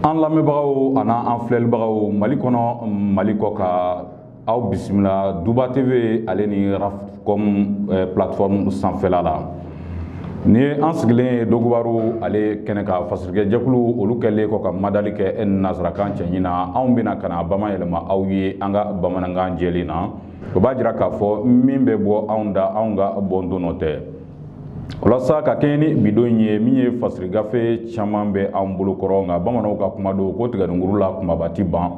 an lamɛnbagaw ani an filɛlibagaw mali kɔnɔ mali kɔkan aw bisimila duba tv ale ni rafcom eh, plateforme sanfɛla la n'i ye an sigilen ye dogobaru ale kɛnɛ kan fasirikɛ jɛkulu olu kɛlen kɔ ka madali kɛ e nasarakan cɛɲi na anw bɛ na ka n'a bamayɛlɛma aw ye an ka bamanankan jɛlen na o b'a jira k'a fɔ min bɛ bɔ anw da anw ka bɔndon nɔ tɛ walasa ka kɛɲɛ ni bi don in ye min ye fasiri gafe caman bɛ an bolo kɔrɔ nka bamananw ka kuma don ko tigɛdunguru la kumaba ti ban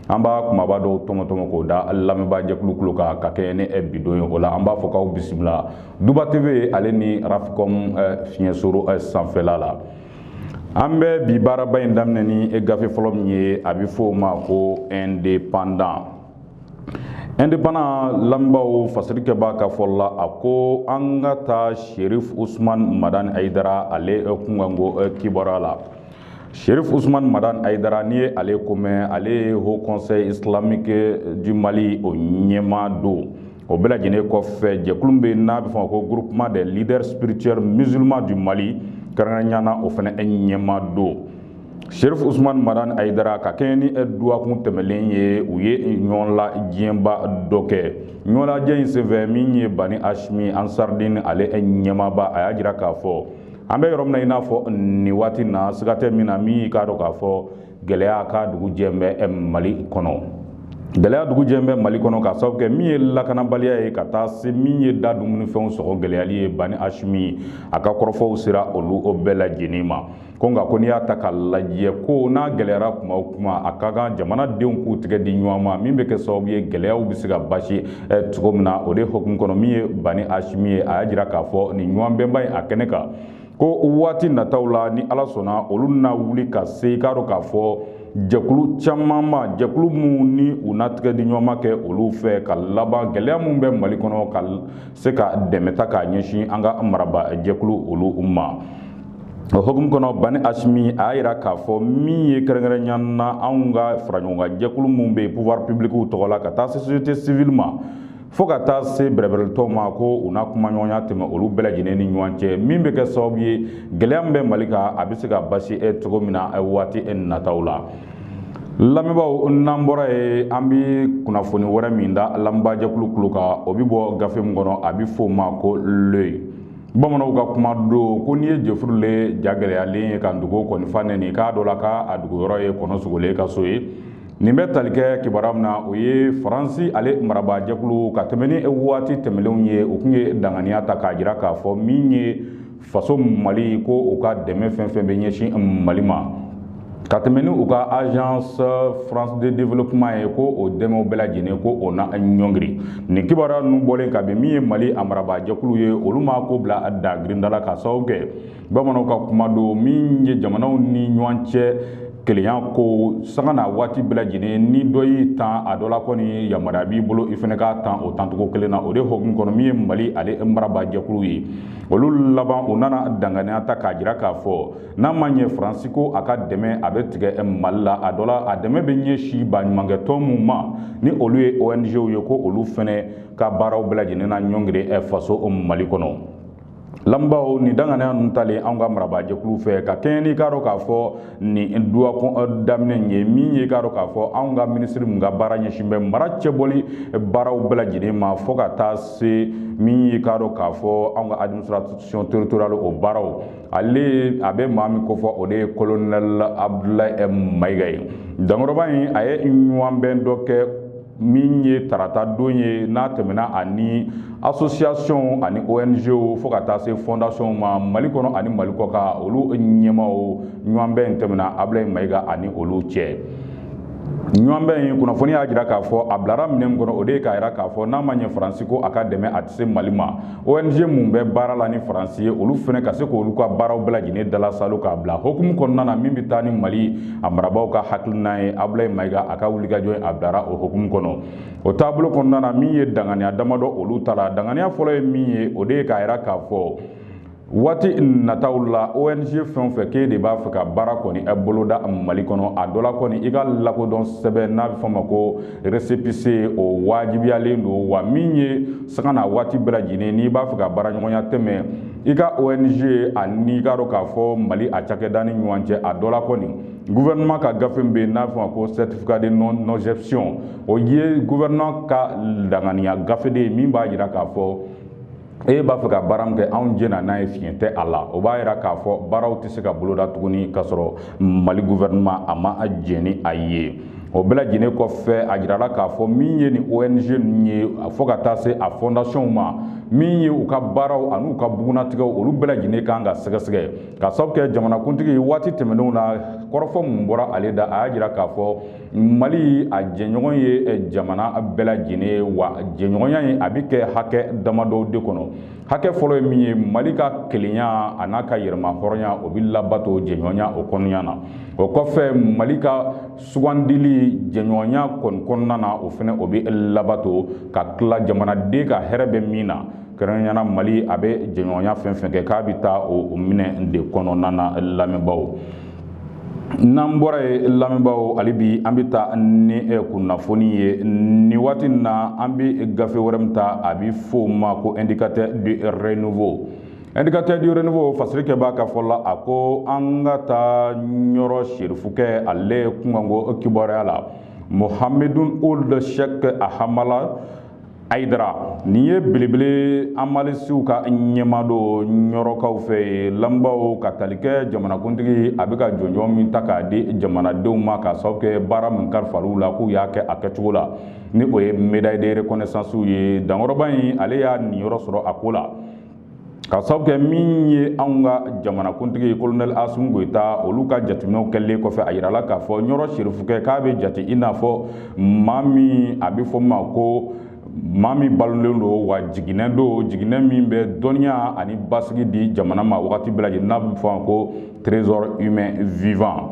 an b'a kumaba dɔw tɔmɔtɔmɔ k'o da lamɛnbaa jɛkulu kulo kan ka kɛɲɛ ni eh, bi don ye o la an b'a fɔ k'aw bisimila duba tv ale ni rafcom eh, fiɲɛsoro eh, sanfɛla la an bɛ bi baaraba in daminɛ ni gafe fɔlɔ min ye a bɛ fɔ o ma ko indépendant indépendant lamɛnbaaw fasirikɛbaa ka fɔ la a ko an ka taa sherif usman madan ayidara ale kunkanko eh, kibaruya la sherif usman madan ayidara n'i ye ale ko mɛn ale ye haut conseil islamique du mali o ɲɛmaa don o bɛɛ lajɛlen kɔfɛ jɛkulu bɛ n'a bɛ fɔ ko groupement des leaders spirituels musulmans du Mali kɛrɛnkɛrɛnnenya na o fana ɲɛmaa don Sherif Usman Madan Ayidara ka kɛɲɛ ni duwakun tɛmɛlen ye u ye ɲɔgɔnlajɛba dɔ kɛ ɲɔgɔnlajɛ in senfɛ min ye Bani Hashimi Ansardin ale ɲɛmaaba a y'a jira k'a fɔ an bɛ yɔrɔ min na i n'a fɔ nin waati na siga tɛ min na min i k'a dɔn k'a fɔ gɛlɛya ka dugu jɛ bɛ mali kɔnɔ gɛlɛya dugu jɛ bɛ mali kɔnɔ ka sababu kɛ min ye lakanabaliya ye ka taa se min ye da dumunifɛnw sɔngɔ gɛlɛyali ye bani hashimi a ka kɔrɔfɔw sera olu bɛɛ lajɛlen ma ko nka ko n'i y'a ta ka lajɛ ko n'a gɛlɛyara kuma o kuma a ka kan jamanadenw k'u tigɛ di ɲɔgɔn ma min bɛ kɛ sababu ye gɛlɛyaw bɛ se ka basi eh, cogo min na o de hukumu kɔnɔ min ye bani hashimi ye a y'a jira k'a fɔ nin ɲɔgɔnbɛnba in a kɛnɛ kan ko waati nataw la ni ala sɔnna olu na wuli ka se i k'a dɔn k'a fɔ jɛkulu caman ma jɛkulu minnu ni u na tigɛ di ɲɔgɔnma kɛ olu fɛ ka laban gɛlɛya minnu bɛ mali kɔnɔ ka se ka dɛmɛ ta k'a ɲɛsin an ka marabaa jɛkulu olu ma o hukumu kɔnɔ bani hashimi a y'a yira k'a fɔ min ye kɛrɛnkɛrɛnya na anw ka faraɲɔgɔnkan jɛkulu minnu bɛ yen pouvoir public tɔgɔ la ka taa se société civile ma fo ka taa se bɛrɛbɛrɛtɔw ma ko u na kumaɲɔgɔnya tɛmɛ olu bɛɛ lajɛlen ni ɲɔgɔn cɛ min bɛ kɛ sababu ye gɛlɛya min bɛ mali kan a bɛ se ka basi e cogo min na waati e nataw la lamɛnbaaw n'an bɔra yen an bɛ kunnafoni wɛrɛ min da lamɛnbaajɛkulu kulo kan o bɛ bɔ gafe min kɔnɔ a bɛ fɔ o ma ko l'œil bamananw ka kuma don ko n'i ye jɛfuru le ja gɛlɛyalen ye ka dugu kɔnifa nɛni k'a dɔ la k'a dugu yɔrɔ ye kɔnɔ sogolen ka so ye nin bɛ tali kɛ kibaruya min na o ye faransi ale marabaajɛkulu ka tɛmɛ ni waati tɛmɛnenw ye u tun ye danganiya ta k'a jira k'a fɔ min ye faso mali ko u ka dɛmɛ fɛn fɛn bɛ ɲɛsin mali ma ka tɛmɛ ni u ka agence française de développement ye ko o dɛmɛw bɛɛ lajɛlen ko o na ɲɔngiri nin kibaruya ninnu bɔlen ka bin min ye mali a marabaajɛkulu ye olu ma ko bila da girindala ka sababu kɛ bamananw ka kuma don min ye jamanaw ni ɲɔgɔn cɛ kelenya ko sanga na waati bɛɛ lajɛlen ni dɔ y'i tan a dɔ la kɔni yamaruya b'i bolo i fana k'a tan o tancogo kelen na o de hokumu kɔnɔ min ye mali ale marabaajɛkulu ye olu laban u nana danganiya ta k'a jira k'a fɔ n'a ma ɲɛ faransi ko a ka dɛmɛ a bɛ tigɛ mali la a dɔ la a dɛmɛ bɛ ɲɛsin baɲumankɛtɔn minnu ma ni olu ye ongw ye ko olu fana ka baaraw bɛɛ lajɛlen na ɲɔngiri faso mali kɔnɔ lamɛnbaaw nin danganiya ninnu talen anw ka marabaajɛkulu fɛ ka kɛɲɛ n'i k'a dɔn k'a fɔ nin duwa daminɛ in ye min ye k'a dɔn k'a fɔ anw ka minisiri min ka baara ɲɛsin bɛ mara cɛbɔli baaraw bɛɛ lajɛlen ma fo ka taa se min ye k'a dɔn k'a fɔ anw ka administration territoriale o baaraw ale a bɛ maa min kofɔ o de ye colonel abdulayi mayiga ye dankɔrɔba in a ye ɲɔgɔnbɛn dɔ kɛ min ye tarata don ye n'a tɛmɛna ani asosiyasiyɔnw ani ONGw fo ka taa se fɔndasiyɔnw ma mali kɔnɔ ani mali kɔkan olu ɲɛmaaw ɲɔgɔnbɛn in tɛmɛna abulayi mayiga ani olu cɛ ɲɔgɔnbɛn in kunnafoni y'a jira k'a fɔ a bilara minɛn min kɔnɔ o de ye k'a jira k'a fɔ n'a ma ɲɛ faransi ko a ka dɛmɛ a tɛ se mali ma ONG mun bɛ baara la ni Faransi ye olu fana ka se k'olu ka baaraw bɛɛ lajɛlen dalasalo k'a bila hokumu kɔnɔna na min bɛ taa ni Mali a marabaaw ka hakilina ye Abulayi Mayiga a ka wulikajɔ in a bilara o hokumu kɔnɔ o taabolo kɔnɔna na min ye danganiya damadɔ olu tala danganiya fɔlɔ ye min ye o de ye k'a jira k'a fɔ waati nataw la ong fɛn o fɛn k'e de b'a fɛ ka baara kɔni boloda mali kɔnɔ a dɔ la kɔni i ka lakodɔn sɛbɛn n'a bɛ fɔ a ma ko resepise o wajibiyalen don wa min ye sanga n'a waati bɛɛ lajɛlen n'i b'a fɛ ka baaraɲɔgɔnya tɛmɛ i ka ong ani i k'a dɔn k'a fɔ mali a cakɛda ni ɲɔgɔn cɛ a dɔ la kɔni guvɛrɛnɛma ka gafe bɛ yen n'a fɔ a ma ko certificat de non-objection o ye guvɛrɛnɛma ka danganiya gafe de ye min b'a jira k'a fɔ e b'a fɛ ka baara min kɛ anw jɛna n'a ye fiɲɛ tɛ a la o b'a yira k'a fɔ baaraw tɛ se ka boloda tuguni k'a sɔrɔ mali gouvernement a ma jɛn ni a ye o bɛɛ lajɛlen kɔfɛ a jirala k'a fɔ min ye nin ong ninnu ye fo ka taa se a fɔndasiyɔnw ma min ye u ka baaraw an'u ka bugunnatigɛw olu bɛɛ lajɛlen kan ka sɛgɛsɛgɛ ka sababu kɛ jamanakuntigi waati tɛmɛnenw na kɔrɔfɔ mun bɔra ale da a y'a jira k'a fɔ mali a jɛɲɔgɔn ye eh, jamana bɛɛ lajɛlen ye wa jɛɲɔgɔnya in a bɛ kɛ hakɛ damadɔw de kɔnɔ hakɛ fɔlɔ ye min ye mali ka kelenya a n'a ka yɛrɛmahɔrɔnya o bɛ labato jɛɲɔgɔnya o kɔnɔna na o kɔfɛ mali ka sugandili jɛɲɔgɔnya kɔni kɔnɔna na o fana o bɛ labato ka tila jamanaden ka hɛrɛ bɛ min na kɛrɛnkɛrɛnya la mali a bɛ jɛɲɔgɔnya fɛn fɛn kɛ k'a bɛ taa o minɛ de kɔnɔna na lamɛnbaaw n'an bɔra yen lamɛnbaaw hali bi an bɛ taa ni eh, kunnafoni ye nin waati na an bɛ gafe wɛrɛ min ta a bɛ f'o ma ko indicateur du renouveau indicateur du renouveau fasirikɛbaa ka fɔ la a ko an ka taa ɲɔrɔ serifukɛ ale kunkanko kibaruya la mohamedun ould cheikh ahamala ayidara nin ye belebele hamalisiw ka ɲɛmaa don ɲɔrɔkaw fɛ yen lamɛnbaaw ka tali kɛ jamanakuntigi a bɛ ka jɔnjɔn min ta k'a di jamanadenw ma k'a sababu kɛ baara min kalifal'u la k'u y'a kɛ a kɛcogo la ni o ye médaille de reconnaissance ye dankɔrɔba in ale y'a niyɔrɔ sɔrɔ a ko la K'a sababu kɛ min ye anw ka jamanakuntigi kolonɛl Asimi Goyita olu ka jateminɛw kɛlen kɔfɛ a jirala k'a fɔ Ɲɔrɔ Sirifukɛ k'a bɛ jate i n'a fɔ maa min a bɛ fɔ ma ko maa min balolen don wa jiginɛ don jiginɛ min bɛ dɔnniya ani basigi di jamana ma waati bɛɛ lajɛlen n'a bɛ fɔ ko trésor humain vivant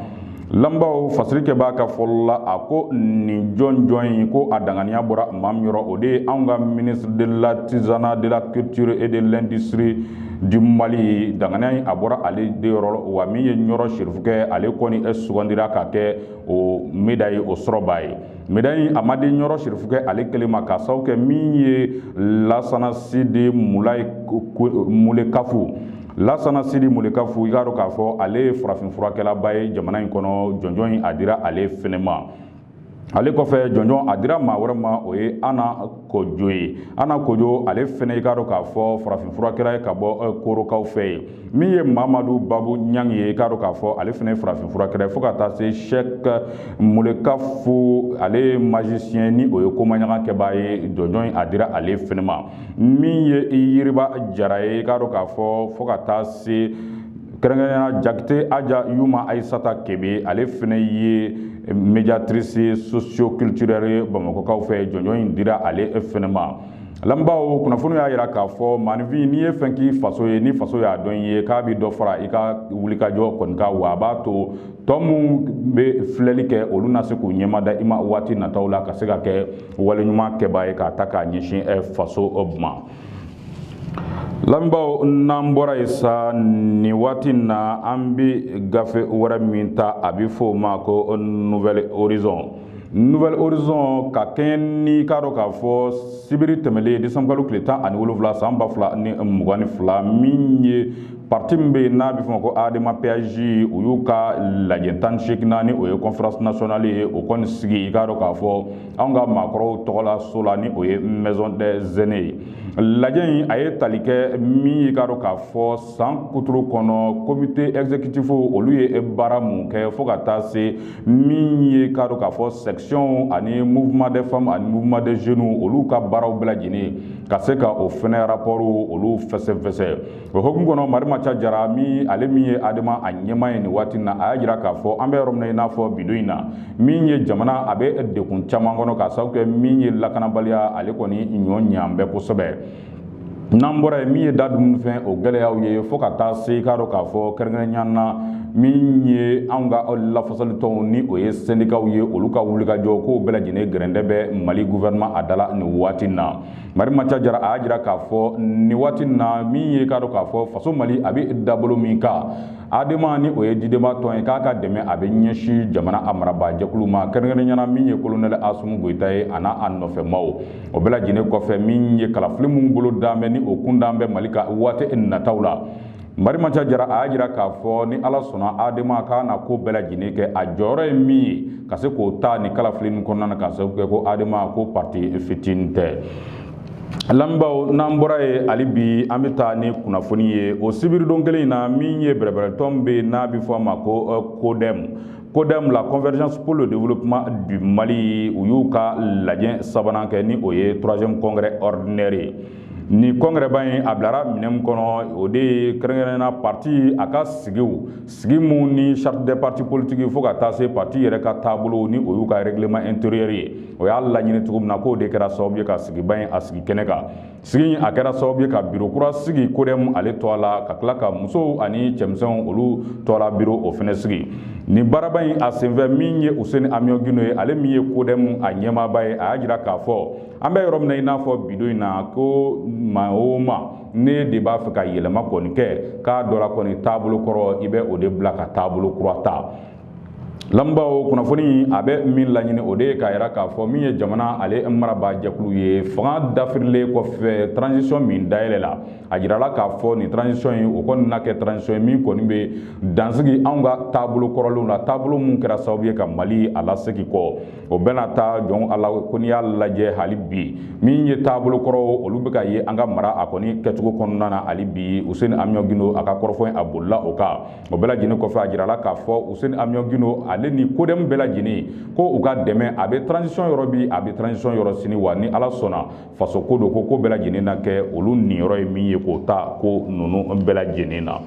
lamɛnbaaw fasirikɛbaa ka fɔli la a ko nin jɔnjɔn in ko a dankɛnɛya bɔra maa min yɔrɔ o de ye anw ka ministre de l'artisanat de la culture et de l'industrie du mali dankɛnɛya in a bɔra ale de yɔrɔ wa min ye ɲɔrɔ sirifukɛ ale kɔni sugandira ka kɛ o médaille o sɔrɔbaa ye Médaille in a ma di Ɲɔrɔ Sirifukɛ ale kelen ma k'a sababu kɛ min ye Lasana Sidi Mulayi Mulekafu Lasana Sidi Mulekafu i k'a dɔn k'a fɔ ale ye farafinfurakɛlaba ye jamana in kɔnɔ jɔnjɔn in a dira ale fɛnɛ ma ale kɔfɛ jɔnjɔn a dira maa wɛrɛ ma o ye Ana Kojo ye Ana Kojo ale fɛnɛ i k'a dɔn k'a fɔ farafinfurakɛla ye ka bɔ Korokaw fɛ yen min ye mamadu babu ɲang ye i k'a dɔn k'a fɔ ale fɛnɛ ye farafinfurakɛla ye fo ka taa se cheikh mulekafu ale ye magicien ni o ye komaɲaga kɛbaa ye jɔnjɔn in a dira ale fɛnɛ ma min ye yiriba jara ye i k'a dɔn k'a fɔ fo ka taa se kɛrɛnkɛrɛnya jakite aja yuma ayisata kebe ale fɛnɛ ye médiatrice socioculturelle ye bamakɔkaw fɛ jɔnjɔn in dira ale fɛnɛ ma lamɛnbaaw kunnafoni y'a jira k'a fɔ maanifin n'i ye fɛn k'i faso ye ni faso y'a dɔn i ye k'a bɛ dɔ fara i ka wulikajɔ kɔni kan wa a b'a to tɔ minnu bɛ filɛli kɛ olu na se k'u ɲɛmada i ma waati nataw la ka se ka kɛ waleɲuman kɛbaa ye k'a ta k'a ɲɛsin eh, faso eh, ma lamɛnbaaw n'an bɔra yen sa nin waati in na an bɛ gafe wɛrɛ min ta a bɛ fɔ o ma ko nouvel horizon Nouvel Horizon ka kɛɲɛ ni k'a dɔn k'a fɔ sibiri tɛmɛlen décembre kalo tile tan ani wolonwula san ba fila ni mugan ni fila min ye parti min bɛ yen n'a bɛ f'o ma ko ADEMA PASJ u y'u ka lajɛ tan ni seeginan ni o ye conférence nationale ye o kɔni sigi i k'a dɔn k'a fɔ anw ka maakɔrɔw tɔgɔla so la ni o ye maison des aînés ye lajɛ in a ye tali kɛ min ye i k'a dɔn k'a fɔ san kuturu kɔnɔ comité exécutif olu ye baara mun kɛ fo ka taa se min ye k'a dɔn k'a fɔ sectionw ani mouvement des femmes ani mouvement des jeunes olu ka baaraw bɛɛ lajɛlen ka se ka o fɛnɛ rapport olu fɛsɛfɛsɛ o hukumu kɔnɔ marimaca jara min ale min ye adema a ɲɛmaa ye nin waati na a y'a jira k'a fɔ an bɛ yɔrɔ min na i n'a fɔ bidon in na min ye jamana a bɛ degun caman kɔnɔ k'a sababu kɛ min ye lakanabaliya ale kɔni ɲɔ ɲɛ an bɛɛ kosɛbɛ n'an bɔra yen min ye da dumuni fɛn o gɛlɛyaw ye fo ka taa se k'a dɔn k'a fɔ kɛrɛnkɛrɛnnenya na min ye anw ka lafasali tɔnw ni o ye sendikaw ye olu ka wulikajɔ k'o bɛɛ lajɛlen gɛrɛntɛ bɛ mali gouvernement a da la nin waati na marimaca jara a y'a jira k'a fɔ nin waati na min ye k'a dɔn k'a fɔ faso mali a bɛ dabolo min kan adema ni o ye didenma tɔn ye k'a ka dɛmɛ a bɛ ɲɛsin jamana a marabaa jɛkulu ma kɛrɛnkɛrɛnnenya na min ye kolonɛli asimi goyita ye a n'a a nɔfɛmaw o bɛɛ lajɛlen kɔfɛ min ye kalafili minnu bolo dan bɛ ni o kun dan bɛ mali ka waati nataw la marimaca jara a y'a jira k'a fɔ ni ala sɔnna adema k'a na ko bɛɛ lajɛlen kɛ a jɔyɔrɔ ye min ye ka se k'o ta ni kalafili nin kɔnɔna na k'a sababu kɛ ko adema ko parti fitinin tɛ lamɛnbaaw n'an bɔra yen hali bi an bɛ taa ni kunnafoni ye o sibiridon kelen in na min ye bɛrɛbɛrɛtɔn bɛ n'a bɛ fɔ a ma ko kodɛmu Kodɛmu la convergence pour le développement du Mali u y'u ka lajɛ sabanan kɛ ni o ye troisième congrès ordinaire ye nin congrès ba in a bilara minɛn min kɔnɔ o de ye kɛrɛnkɛrɛnna parti a ka sigiw sigi minnu ni charte des partis politiques fo ka taa se parti yɛrɛ ka taabolo ni o y'u ka règlement intérieur ye o y'a laɲini cogo min na k'o de kɛra sababu ye ka sigiba in a sigi kɛnɛ kan sigi in a kɛra sababu ye ka biro kura sigi kodɛmu ale tɔgɔ la ka tila ka musow ani cɛmisɛnw olu tɔgɔla biro o fɛnɛ sigi nin baaraba in a senfɛ min ye useni amiyɔn gindo ye ale min ye kodɛmu a ɲɛmaaba ye a y'a jira k'a fɔ an bɛ yɔrɔ min na i n'a fɔ bidon in na ko maa o maa n'e de b'a fɛ ka yɛlɛma kɔni kɛ k'a dɔ la kɔni taabolo kɔrɔ i bɛ o de bila ka taabolo kura ta Lambaw kunnafoni a bɛ min laɲini o de ye k'a jira k'a fɔ min ye jamana ale marabaajɛkulu ye fanga dafirilen kɔfɛ transition min dayɛlɛla a jirala k'a fɔ nin transition in o kɔni na kɛ transition ye min kɔni bɛ dansigi anw ka taabolo kɔrɔlenw na taabolo minnu kɛra sababu ye ka mali a lasegin kɔ o bɛna taa jɔn a la ko n'i y'a lajɛ hali bi min ye taabolo kɔrɔw olu bɛ ka ye an ka mara a kɔni kɛcogo kɔnɔna na hali bi Useni Amiɔn Gino a ka kɔrɔfɔ a bolila o kan o bɛɛ lajɛlen kɔfɛ a jirala k'a fɔ useni amiɔn gino ale ni CODEM bɛɛ lajɛlen ko u ka dɛmɛ a bɛ transition yɔrɔ bi a bɛ transition yɔrɔ sini wa ni ala sɔnna faso ko don ko ko bɛɛ lajɛlen na kɛ olu niyɔrɔ ye min ye k'o ta ko ninnu bɛɛ lajɛlen na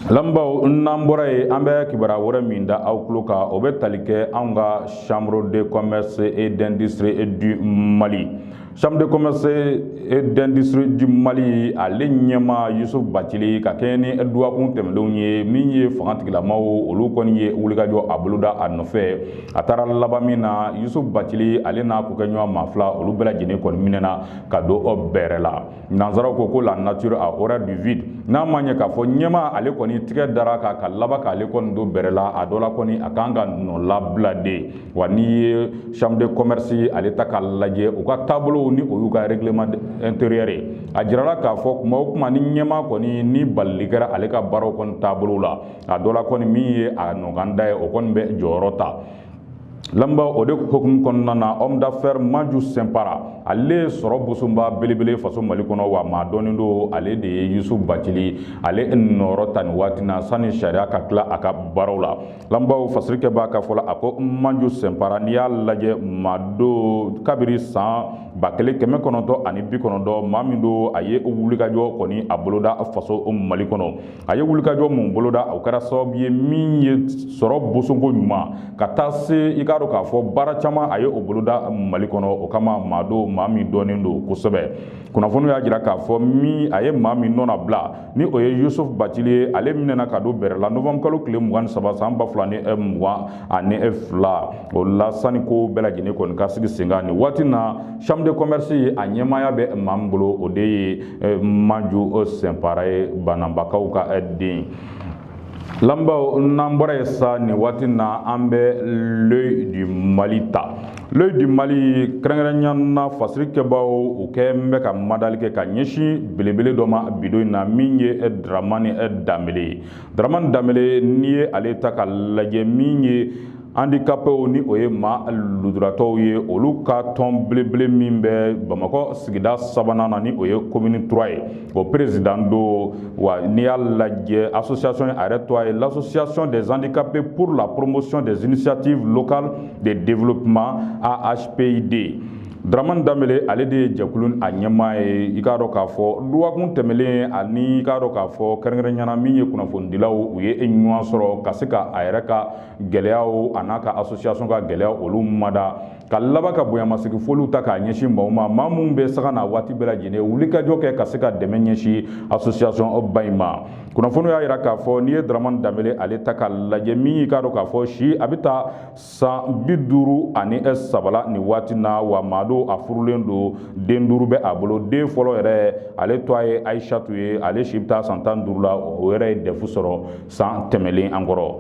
lamɛnbaaw n'an bɔra yen an bɛ kibaruya wɛrɛ min da aw tulo kan o bɛ tali kɛ anw ka chambre de commerce et d'industrie du mali Chambre de commerce et d'industrie du Mali ale ɲɛmaa Yusuf Bacili ka kɛɲɛ ni dɔgɔkun tɛmɛnlenw ye min ye fangatigilamaw olu kɔni ye wulikajɔ a boloda a nɔfɛ a taara laban min na Yusuf Bacili ale n'a kokɛɲɔgɔn maa fila olu bɛɛ lajɛlen kɔni minɛna ka don bɛrɛ la nansaraw ko ko la nature a horreur du vide n'a ma ɲɛ k'a fɔ ɲɛmaa ale kɔni tigɛ dara a kan ka laban k'ale kɔni don bɛrɛ la a dɔ la kɔni a kan ka nɔ la bila de wa n'i ye chambre de commerce ale ta k'a lajɛ u ka taabolow ni o y'u ka règlement intérieur ye a jirala k'a fɔ kuma o kuma ni ɲɛmaa kɔni ni balili kɛra ale ka baaraw kɔni taabolow la a dɔ la kɔni min ye a nɔkanda ye o kɔni bɛ jɔyɔrɔ ta lambaw o de hukumu kɔnɔna na homme d'affaires maju sɛnpara ale ye sɔrɔ bosoba belebele faso mali kɔnɔ wa maa dɔnnen don ale de ye yusuf bacili ale nɔrɔ ta nin waati na sanni sariya ka tila a ka baaraw la lanbaw fasirikɛbaa ka fɔ la a ko manju sɛnpara n'i y'a lajɛ maa don kabiri san ba kelen kɛmɛ kɔnɔntɔn ani bi kɔnɔntɔn maa min don a ye wulikajɔ kɔni a boloda faso mali kɔnɔ a ye wulikajɔ mun boloda o kɛra sababu ye min ye sɔrɔ bosonko ɲuman ka taa se i k'a dɔn k'a fɔ baara caman a ye o boloda mali kɔnɔ o kama maa don maa min dɔnnen don kosɛbɛ kunnafoniw y'a jira k'a fɔ min a ye maa min nɔna bila ni o ye yusuf bacili ye ale minɛna ka don bɛrɛ la novembre kalo tile mugan ni saba san ba fila ni eh, mugan ani eh, fila o la sani ko bɛɛ lajɛlen kɔni ka sigi senkan nin waati na chambre de commerce ye a ɲɛmaaya bɛ maa min bolo o de ye eh, maju sɛnpara ye bananbakaw ka den Lambaw n'an bɔra yen sa nin waati na an bɛ l'œil du mali ta l'œil du mali kɛrɛnkɛrɛnya na fasirikɛbaaw u kɛlen bɛ ka madali kɛ ka ɲɛsin belebele dɔ ma bi don in na min ye dramani danbele ye dramani danbele n'i ye ale ta k'a lajɛ min ye handicapés ni o ye maa lujuratɔw ye olu ka tɔn belebele min bɛ bamakɔ sigida sabanan na ni o ye commune 3 ye o président don wa n'i y'a lajɛ association a yɛrɛ tɔgɔ ye l'association des handicapés pour la promotion des initiatives locales de développement AHPID Dramane Dambele ale de ye jɛkulu a ɲɛmaa ye i k'a dɔn k'a fɔ duwakun tɛmɛlen ani i k'a dɔn k'a fɔ kɛrɛnkɛrɛnya na min ye kunnafonidilaw u ye ɲɔgɔn sɔrɔ ka se ka a yɛrɛ ka gɛlɛyaw a n'a ka association ka gɛlɛya olu mada ka laban ka bonyamasigi foliw ta k'a ɲɛsin maaw ma maa minnu bɛ sanga ni waati bɛɛ lajɛlen wulikajɔ kɛ ka se ka dɛmɛ ɲɛsin association ba in ma kunnafoni y'a jira k'a fɔ n'i ye daramani danbele ale ta k'a lajɛ min y'i k'a dɔn k'a fɔ si a bɛ taa san bi duuru ani saba la nin waati na wa maa don a furulen don den duuru bɛ a bolo den fɔlɔ yɛrɛ ale tɔgɔ ye ayisatu ye ale si bɛ taa san tan duuru la o yɛrɛ ye dɛfu sɔrɔ san tɛmɛlen an kɔrɔ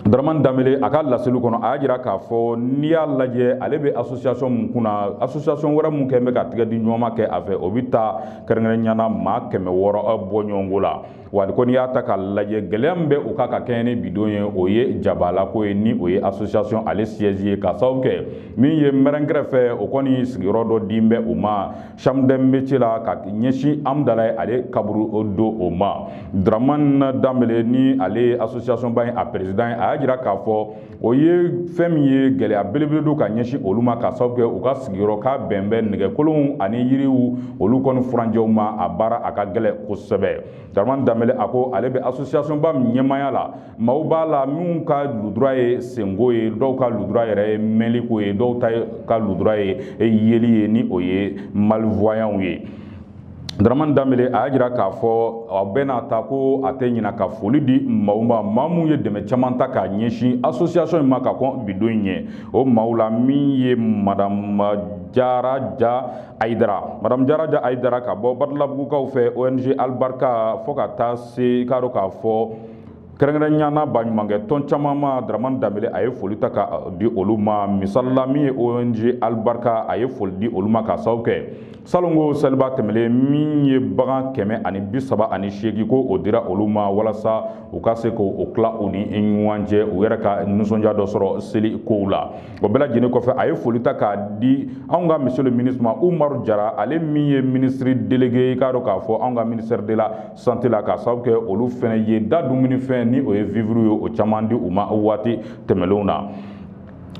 Daraman danbele a ka laseli kɔnɔ a y'a jira k'a fɔ n'i y'a lajɛ ale bɛ asosiyasɔn min kun na asosiyasɔn wɛrɛ min kɛ bɛ ka tigɛ di ɲɔgɔn ma kɛ a fɛ o bɛ taa kɛrɛnkɛrɛnya na maa kɛmɛ wɔɔrɔ bɔ ɲɔgɔnko la wa ko n'i y'a ta k'a lajɛ gɛlɛya min bɛ u kan ka kɛɲɛ ni bi don ye o ye jabalako ye ni o ye asosiyasɔn ale siyɛzi ye k'a sababu kɛ min ye mɛri kɛrɛfɛ o kɔni sigiyɔrɔ dɔ dilen bɛ u ma Chambre de métier la ka ɲɛsin amdalayi ale kaburudo o ma daraman danbele ni ale ye asosiyasɔnba in a peresidan ye a y'a jira k'a fɔ o ye fɛn min ye gɛlɛya belebele don ka ɲɛsin olu ma k'a sababu kɛ u ka sigiyɔrɔ ka bɛn bɛ nɛgɛkolonw ani yiriw olu kɔni furancɛw ma a baara a ka gɛlɛn kosɛbɛ daraman danbele a ko ale bɛ asosiyasɔnba min ɲɛmaaya la maaw b'a la minnu ka ludura ye senko ye dɔw ka ludura yɛrɛ ye mɛnliko ye dɔw ta ka ludura ye yeli ye ni o ye malvoyants ye daramani danbele a y'a jira k'a fɔ a bɛɛ n'a ta ko a tɛ ɲina ka foli di maaw ma maa minnu ye dɛmɛ caman ta k'a ɲɛsin asosiyasɔn in ma ka kɔn bi don in ɲɛ o maaw la min ye madama jara ja ayidara madamu jara ja ayidara ka bɔ badalabugukaw fɛ ong alibarika fo ka taa se i k'a dɔn k'a fɔ kɛrɛnkɛrɛnya na baɲumankɛ tɔn caman ma daraman danbele a ye foli ta ka di olu ma misali la min ye ong alibarika a ye foli di olu ma k'a sababu kɛ salon ko seliba tɛmɛlen min ye bagan kɛmɛ ani bi saba ani seegin ko o dira olu ma walasa u ka se k'o tila u ni ɲɔgɔn cɛ u yɛrɛ ka nisɔndiya dɔ sɔrɔ seli kow la o bɛɛ lajɛlen kɔfɛ a ye foli ta k'a di anw ka monsieur le ministre ma umaru jara ale min ye minisiri delege i k'a dɔn k'a fɔ anw ka ministère de la santé la k'a sababu kɛ olu fɛnɛ ye da dumunifɛn ni o ye vivres ye o caman di u ma waati tɛmɛlenw na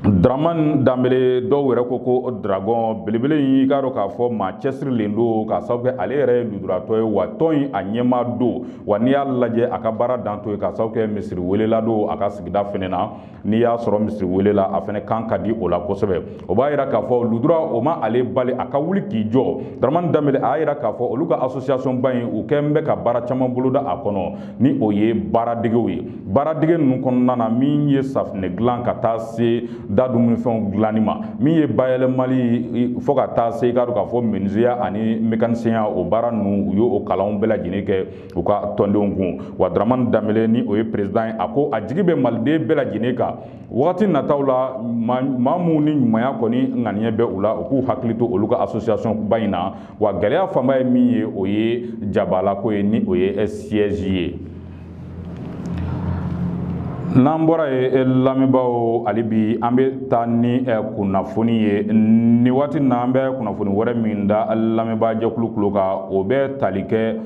Dramane Dambele dɔw yɛrɛ ko ko dragon belebele in i k'a dɔn k'a fɔ maa cɛsirilen don k'a sababu kɛ ale yɛrɛ ye lujuratɔ ye wa tɔn in a ɲɛmaa don wa n'i y'a lajɛ a ka baara dan t'o ye k'a sababu kɛ misiri welela don a ka sigida fɛnɛ na n'i y'a sɔrɔ misiri welela a fɛnɛ kan ka di o la kosɛbɛ o b'a yira k'a fɔ lujura o ma ale bali a ka wuli k'i jɔ daramani danbele a y'a yira k'a fɔ olu ka association ba in u kɛn bɛ ka baara caman boloda a kɔnɔ ni o ye baaradegew ye baaradege ninnu kɔnɔna na min ye safinɛ dilan ka taa se da dumunifɛnw dilanni ma min ye bayɛlɛmali fo ka taa se i k'a dɔn k'a fɔ menuisier ya ani mécanicien ya o baara ninnu u y'o kalanw bɛɛ lajɛlen kɛ u ka tɔndenw kun wa dramani danbele ni o ye perezidan ye a ko a jigi bɛ maliden bɛɛ lajɛlen kan wagati nataw la maa minnu ni ɲumanya kɔni ŋaniya bɛ u la u k'u hakili to olu ka association ba in na wa gɛlɛya fanba ye min ye o ye jabalako ye ni o ye siège ye n'an bɔra yen eh, lamɛnbaaw hali bi an bɛ taa ni eh, kunnafoni ye nin waati na an bɛ kunnafoni wɛrɛ min da lamɛnbaa jɛkulu kulo kan o bɛ tali kɛ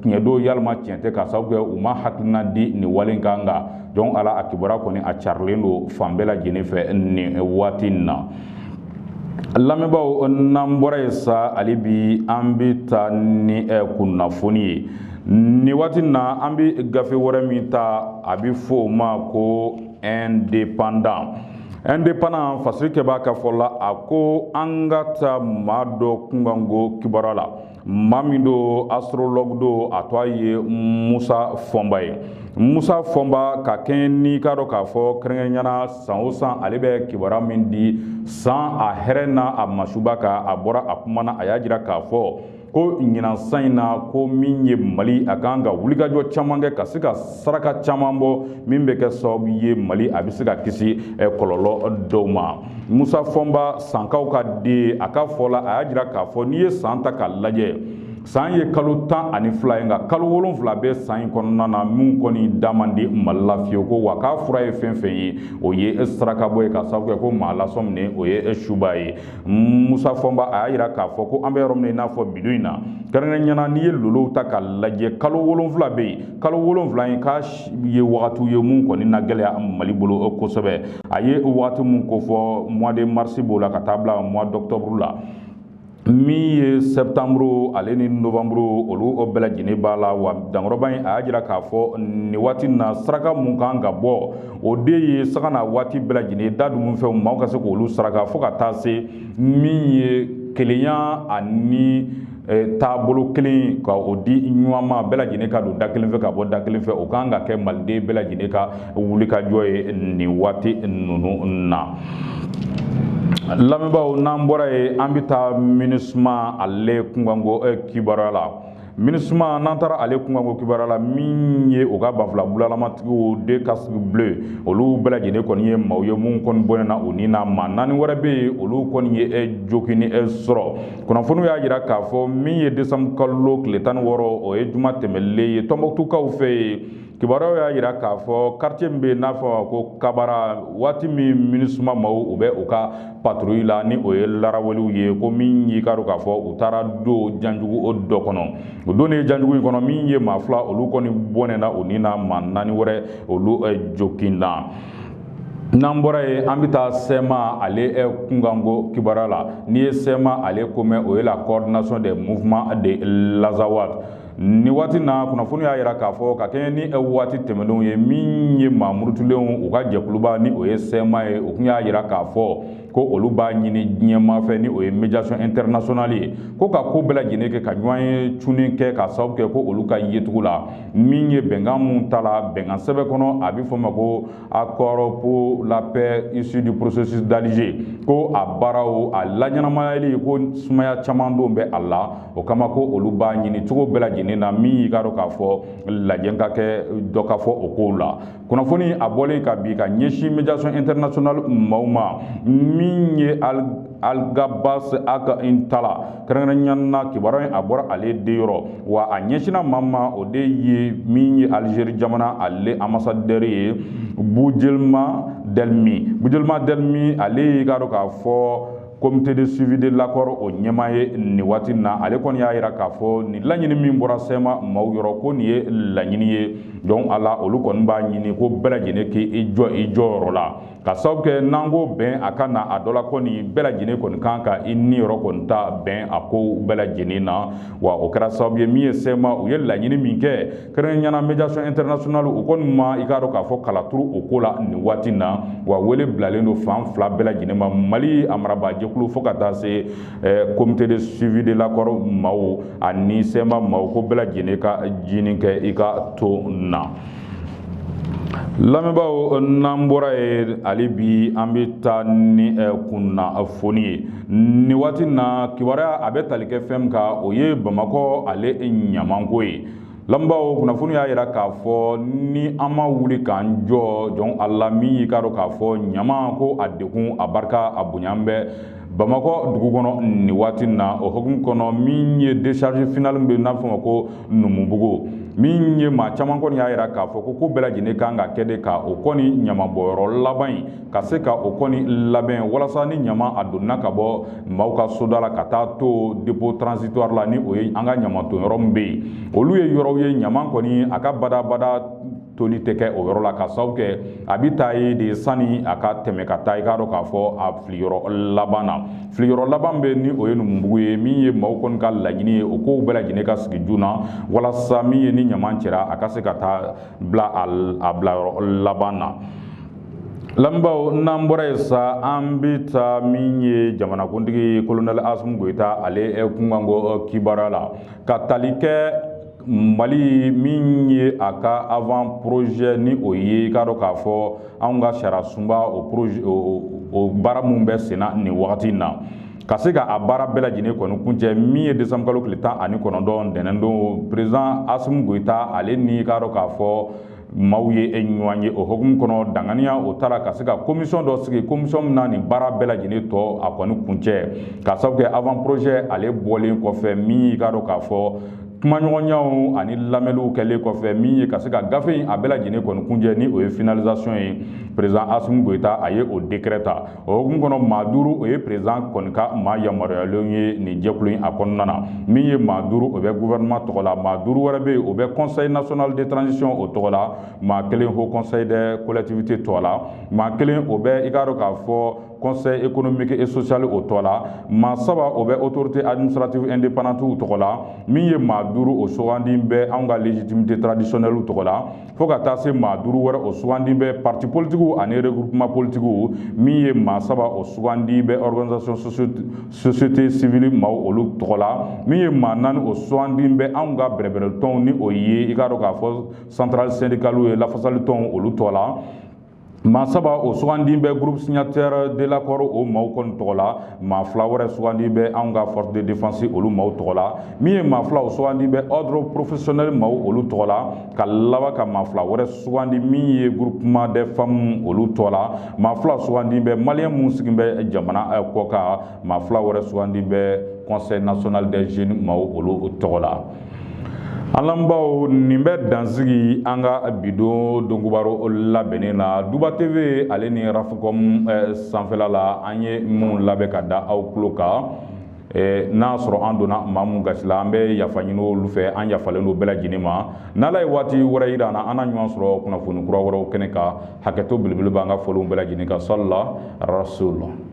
tiɲɛ don yalima tiɲɛ tɛ k'a sababu kɛ u ma hakilina di nin wale in kan nka jɔn ala a kibaruya kɔni a carilen don fan bɛɛ lajɛlen fɛ nin waati in na lamɛnbaaw n'an bɔra yen sa hali bi an bɛ taa ni eh, kunnafoni ye nin waati in na an bɛ gafe wɛrɛ min ta a bɛ fɔ o ma ko indépendant indépendant fasirikɛbaa ka fɔ la a ko an ka taa maa dɔ kunkanko kibaruya la maa min don astrologue don a tɔgɔ ye musa fɔnba ye musa fɔnba ka kɛɲɛ n'i k'a dɔn k'a fɔ kɛrɛnkɛrɛnya na san o san ale bɛ kibaruya min di san a hɛrɛ n'a a masuba kan a bɔra a kuma na a y'a jira k'a fɔ ko ɲinan san in na ko min ye mali a kan ka wulikajɔ caman kɛ ka se ka saraka caman bɔ min bɛ kɛ sababu ye mali a bɛ se ka kisi kɔlɔlɔ dɔw ma musa fɔnba sankaw ka den a ka fɔ la a y'a jira k'a fɔ n'i ye san ta k'a lajɛ san ye kalo tan ani fila ye nka kalo wolonfila bɛ san in kɔnɔna na min kɔni da man di mali la fiyewu ko wa k'a fura ye fɛn fɛn ye o ye sarakabɔ ye ka sababu kɛ ko maa lasɔminen o ye suba ye musa fɔnba a y'a jira k'a fɔ ko an bɛ yɔrɔ min na i n'a fɔ bi don in na kɛrɛnkɛrɛnya na n'i ye lolow ta k'a lajɛ kalo wolonfila bɛ yen kalo wolonfila in k'a ye wagatiw ye mun kɔni na gɛlɛya mali bolo kosɛbɛ a ye waati min kofɔ mois de mars b'o la ka taa bila mois d'octobre la min ye septembre ale ni novembre olu o bɛɛ lajɛlen b'a la wa dankɔrɔba in a y'a jira k'a fɔ nin waati na saraka mun kan ka bɔ o de ye saga na waati bɛɛ lajɛlen da dumunfɛnw maaw ka se k'olu saraka fo ka taa se min ye kelenya ani taabolo kelen ka o di ɲɔgɔn ma bɛɛ lajɛlen ka don da kelen fɛ ka bɔ da kelen fɛ o kan ka kɛ maliden bɛɛ lajɛlen ka wulikajɔ ye nin waati ninnu na lamɛnbaaw n'an bɔra ye an bɛ taa minisuma ale kunkanko eh, kibaruya la minisuma n'an taara ale kunkanko kibaruya la min ye o ka banfula bulalamatigiw de casque bleu olu bɛɛ lajɛlen kɔni ye maaw ye minnu kɔni bɔnɛna u ni na maa naani wɛrɛ bɛ yen olu kɔni ye eh, joginni eh, sɔrɔ kunnafoniw y'a jira k'a fɔ min ye décembre kalo tile tan ni wɔɔrɔ o ye juma tɛmɛlen ye tɔnbɔkutukaw fɛ yen kibaruyaw y'a jira k'a fɔ quartier min bɛ yen n'a fɔ a ma ko kabara waati min minisuma maaw u bɛ u ka patrouille la ni o ye laraweliw ye ko min y'i k'a dɔn k'a fɔ u taara don janjugu dɔ kɔnɔ u donnen janjugu in kɔnɔ min ye maa fila olu kɔni bɔnɛna u ni na maa naani wɛrɛ olu joginna N'an bɔra yen an bɛ taa sɛma ale kunkanko kibaruya la n'i ye sɛma ale ko mɛn o ye la coordination des mouvements de l'Azawad nin waati na kunnafoni y'a jira k'a fɔ ka kɛɲɛ ni waati tɛmɛnenw ye min ye maa murutulenw u ka jɛkuluba ni o ye sɛma ye u tun y'a jira k'a fɔ ko olu b'a ɲini diɲɛmaa fɛ ni o ye médiation internationale ye ko ka ko bɛɛ lajɛlen kɛ ka ɲɔgɔnye cunni kɛ ka sababu kɛ ko olu ka yecogo la min ye bɛnkan mun tala bɛnkan sɛbɛn kɔnɔ a bɛ fɔ ma ko accord pour la paix issu du processus d'Alger ko a baaraw a laɲɛnamayali ko sumaya caman dɔw bɛ a la o kama ko olu b'a ɲini cogo bɛɛ lajɛlen na min y'i k'a dɔn k'a fɔ lajɛ ka kɛ dɔ ka fɔ o kow la kunnafoni a bɔlen ka bi ka ɲɛsin médiation internationale maaw ma min ye algabas ag intala kɛrɛnkɛrɛnya na kibaruya in a bɔra ale de yɔrɔ wa a ɲɛsinna maa ma o de ye min ye alizeri jamana ale anbasadɛri ye bujelima dɛlimi bujelima dɛlimi ale y'i k'a dɔn k'a fɔ comité de suivi de l'accord o ɲɛmaa ye nin waati na ale kɔni y'a jira k'a fɔ nin laɲini min bɔra sɛma maaw yɔrɔ ko nin ye laɲini ye donc a la olu kɔni b'a ɲini ko bɛɛ lajɛlen k'i jɔ i jɔyɔrɔ la ka sababu kɛ n'an ko bɛn a ka na a dɔ la kɔni bɛɛ lajɛlen kɔni kan ka i niyɔrɔ kɔni ta bɛn a kow bɛɛ lajɛlen na wa o kɛra sababu ye min ye sɛma u ye laɲini min kɛ kɛrɛnkɛrɛnya na médiation internationale o kɔni ma i k'a dɔn k'a fɔ kala turu o ko la nin waati na wa wele bilalen don fan fila bɛɛ lajɛlen ma mali a marabaajɛkulu fo ka taa se eh, comité de suivi de l'accord maaw ani sɛma maaw ko bɛɛ lajɛlen ka jinin kɛ i ka to na lamɛnbaaw n'an bɔra ye hali bi an bɛ taa ni eh, kunnafoni ye nin waati na kibaruya a bɛ tali kɛ fɛn min kan o ye bamakɔ ale ɲamanko ye lamɛnbaaw kunnafoni y'a jira k'a fɔ ni an ma wuli k'an jɔ joona la min y'i k'a dɔn k'a fɔ ɲaman ko a degun a barika a bonya bɛ bamakɔ dugu kɔnɔ nin waati na o hukumu kɔnɔ min ye décharge finale bɛ n'a fɔ ma ko numubugu min ye maa caman kɔni y'a jira k'a fɔ ko ko bɛɛ lajɛlen kan ka kɛ de ka o kɔni ɲamabɔyɔrɔ laban in ka se ka o kɔni labɛn walasa ni ɲaman a donna ka bɔ maaw ka soda la ka taa to dépôt transitoire la ni o ye an ka ɲaman ton yɔrɔ min bɛ yen olu ye yɔrɔw ye ɲaman kɔni a ka badabada toli tɛ kɛ o yɔrɔ la ka sabu kɛ a bɛ taa yen de sani a ka tɛmɛ ka taa i k'a dɔn k'a fɔ a filiyɔrɔ laban na filiyɔrɔ laban bɛ ni o ye numubugu ye min ye maaw kɔni ka laɲini ye o kow bɛɛ lajɛlen ka sigi joona walasa min ye ni ɲaman cɛra a ka se ka taa bila a bilayɔrɔ laban na lamɛnbaaw n'an bɔra yen sa an bɛ taa min ye jamanakuntigi kolonɛli asimi goyita ale kunkanko kibaruya la ka tali kɛ mali min ye a ka avant projet ni o ye i k'a dɔn k'a fɔ anw ka sariyasunba o projet o baara min bɛ senna nin wagati in na ka se ka a baara bɛɛ lajɛlen kɔni kuncɛ min ye décembre kalo tile tan ani kɔnɔntɔn ntɛnɛndon président Assimi Goyita ale ni i k'a dɔn k'a fɔ maaw ye ɲɔgɔn ye o hukumu kɔnɔ danganiya o tara ka se ka commission dɔ sigi commission min na nin baara bɛɛ lajɛlen tɔ a kɔni kuncɛ ka sabu kɛ avant projet ale bɔlen kɔfɛ min y'i k'a dɔn k'a fɔ kumaɲɔgɔnyaw ani lamɛnliw kɛlen kɔfɛ min ye ka se ka gafe in a bɛɛ lajɛlen kɔni kuncɛ ni o ye finalisation ye président asimi goyita a ye o décret ta o hukumu kɔnɔ maa duuru o ye président kɔni ka maa yamaruyalen ye nin jɛkulu in a kɔnɔna na min ye maa duuru o bɛ gouvernement tɔgɔ la maa duuru wɛrɛ bɛ yen o bɛ conseil national de transition o tɔgɔ la maa kelen haut conseil des collectivités tɔgɔ la maa kelen o bɛ i k'a dɔn k'a fɔ conseil économique et social o tɔgɔ la maa saba o bɛ autorité administrative indépendante tɔgɔ la min ye maa duuru o sugandi bɛ anw ka légitimité traditionnelle tɔgɔ la fo ka taa se maa duuru wɛrɛ o sugandi bɛ parti politigiw ani regroupement politigiw min ye maa saba o sugandi bɛ organisation société civile maaw olu tɔgɔ la min ye maa naani o sugandi bɛ anw ka bɛrɛbɛrɛtɔnw ni o ye i k'a dɔn k'a fɔ centrale syndicaliw ye lafasalitɔnw olu tɔgɔ la Maa saba o sugandi bɛ groupe signataire de l'accord o maaw kɔni tɔgɔ la, maa fila wɛrɛ sugandi bɛ anw ka force de défense olu maaw tɔgɔ la, min ye maa fila o sugandi bɛ ordre professionnel maaw olu tɔgɔ la, ka laban ka maa fila wɛrɛ sugandi min ye groupement des femmes olu tɔgɔ la, maa fila sugandi bɛ malien minnu sigi bɛ jamana kɔkan, maa fila wɛrɛ sugandi bɛ conseil national des jeunes maaw olu tɔgɔ la. an lamɛnbaaw nin bɛ dan sigi an ka bi don dɔnkobaro labɛnnen na duba tv ale ni rafcom eh, sanfɛla la an ye minnu labɛn ka da aw tulo kan eh, n'a sɔrɔ an donna maa mun gasi la an bɛ yafa ɲini olu fɛ an yafalen don bɛɛ lajɛlen ma n'ala ye waati wɛrɛ yira an na an na ɲɔgɔn sɔrɔ kunnafoni kura wɛrɛw kɛnɛ kan hakɛto belebele b'an ka fɔlenw bɛɛ lajɛlen kan sali ala rasul